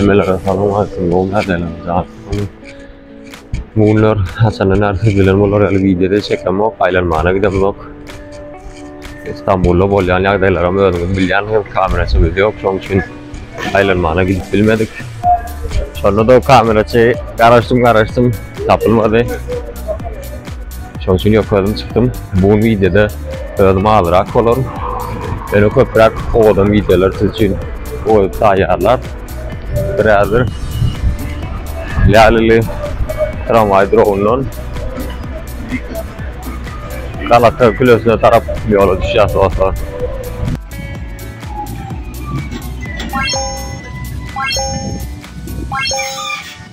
Hemmelere salam aýsyn bu nädeler jatsyny. Bu günler haçanda närsek bilen bolar ýaly wideoda çekemok, aýlanmana gidemok. İstanbul'da bolýan ýagdaýlaram özüňiz bilýänsiňiz, kameraçy biz ýok, şoň üçin aýlanmana gidip bilmedik. Şonda da kameraçy garaşdym garaşdym tapylmady. Şoň üçin ýok özüm çykdym. Bu gün wideoda özüm azrak bolaryn. Ýöne köpräk owadan wideolar siz üçin goýup taýýarlap, biraz bir Lälili tramwaý duragyndan Galata külesine tarap ýola düşýäs dostlar.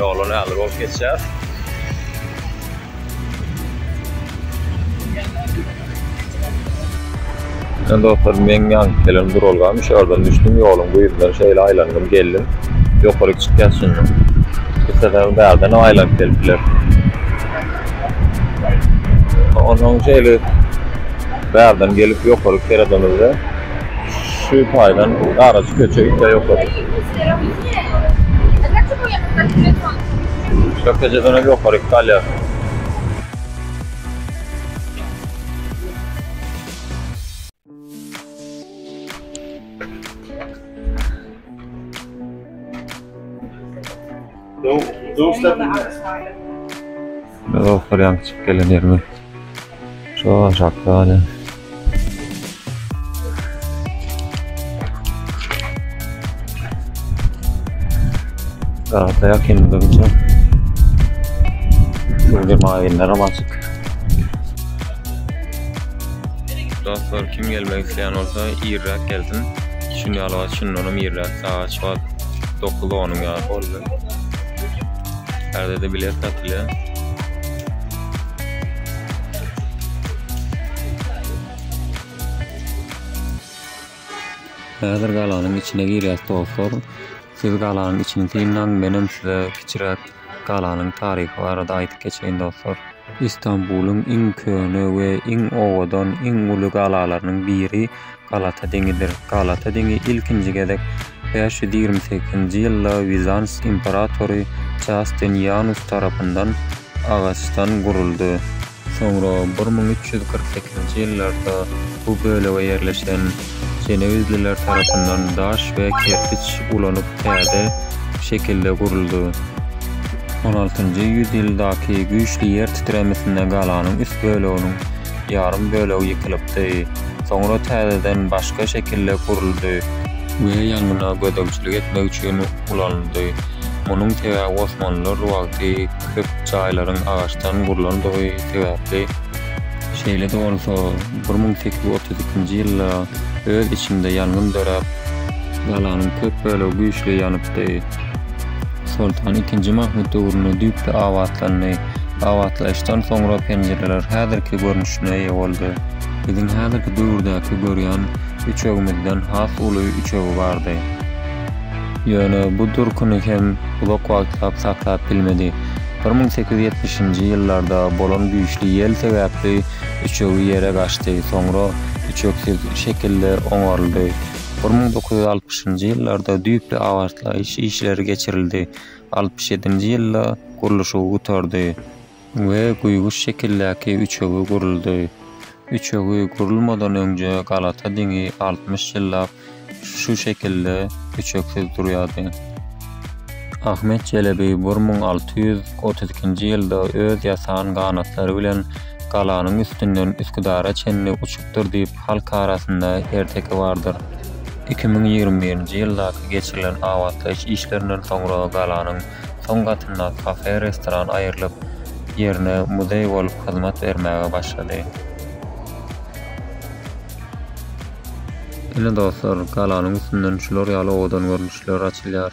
Ýoly nähili bolup geçýär? Ýöne dostlar, meň ýanyp gelen duralgam şu ýerden düşdüm, ýoluň bu ýüzünden şeýle aýlandym, geldim. Ýokaryk çykýas şunda. Isleseňiz bärden hem aýlanyp gelip bilersiňiz. Onsoň şeýle bärden gelip ýokaryk seredemizde, Şu taýdan garyjy köçe ite ýokarda. Şu köçeden hem ýokaryk galýar. Dostlar ýaňky çykyp gelen ýerimiz. Şu aşakda ýa. Garada ýakyndygyň üçin. Şurada maýynlar hem açyk. Dostlar kim gelmek isteýän bolsa irräk gelsin. Şuny alyp açyn, onam irräk sağa Saat 9-10 ýaly boldy. Häzirde bilet satylýar. Häzir galanyň içine girýäs dostlar. Siz galanyň içini synlaň, menem size kiçiräk galanyň taryhy barada aýdyp geçeýin dostlar. Istanbulyň iň köne we iň owadan, iň uly galalarynyň biri Galata deňidir. Galata deňi ilkinji gezek bäş ýüz ýigrimi sekizinji ýylda Wizans imperatory Jastinianus tarapyndan agaçdan guruldy. Soňra bir müň üç ýüz kyrk sekizinji ýyllarda bu bölege ýerleşen jenewizliler tarapyndan daş we kerpiç ulanyp täze şekilde guruldy. On altynjy ýüz ýyldaky güýçli ýer titremesinde galanyň üst böleginiň ýarym bölegi ýykylypdy, soňra täzeden başga şekilde guruldy we ýangyna gözegçilik etmek üçin ulanyldy. Munuň sebäbi osmanlylar wagty köp jaýlaryň agaçdan gurlandygy sebäpli. Şeýle-de bolsa, bir müň sekiz ýüz otuz ikinji ýylda öz içinde ýangyn döräp, galanyň köp bölegi güýçli ýanypdy. Soltan ikinji Mahmut döwründe düýpli abatlandy. Abatlaýyşdan soňra penjireler häzirki görnüşine eýe boldy. Biziň häzirki döwürdäki görýän üçegimizden has uly üçegi bardy. Ýöne bu durkuny hem uzak wagtlap saklap bilmedi. Bir müň sekiz ýüz ýetmişinji ýyllarda bolan güýçli ýel sebäpli üçegi ýere gaçdy, soňra üçeksiz şekilde oňaryldy. Bir müň dokuz ýüz altmyşynjy ýyllarda düýpli abatlaýyş işleri geçirildi, altmyş ýedinji ýylda gurluşygy gutardy we guýguş şekildäki üçegi guruldy. Üçegi gurulmadan öňje galata diňi altmyş ýyllap şu şekilde üçeksiz durýardy. Ahmet Çelebi bir müň alty ýüz otuz ikinji ýylda öz ýasan ganatlary bilen galanyň üstünden Üsküdara çenli uçup ýokdur diýip halk arasynda erteki bardyr. Iki müň ýigrimi birinji ýyldaky geçirilen abatlaýyş işlerinden soňra galanyň soň gatyndaky kafe-restoran aýrylyp, ýerine muzeý bolup hyzmat bermäge başlady. Ine dostlar, galanyň üstünden şular ýaly owadan görnüşler açylýar.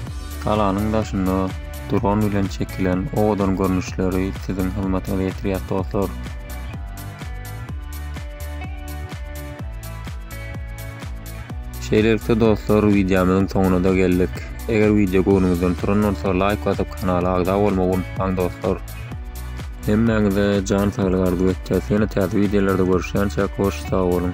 Galanyň daşynda dron bilen çekilen owadan görnüşleri siziň hyzmatyňyza ýetirýäs dostlar. Şeýlelikde dostlar wideomyzyň soňuna da geldik. Eger wideo göwnüňizden turan bolsa laýk basyp kanala agza bolmagy unutmaň dostlar. Hemmäňize jan saglygy arzuw etýäs. Ýene täze wideolarda görüşýänçäk hoş sag boluň.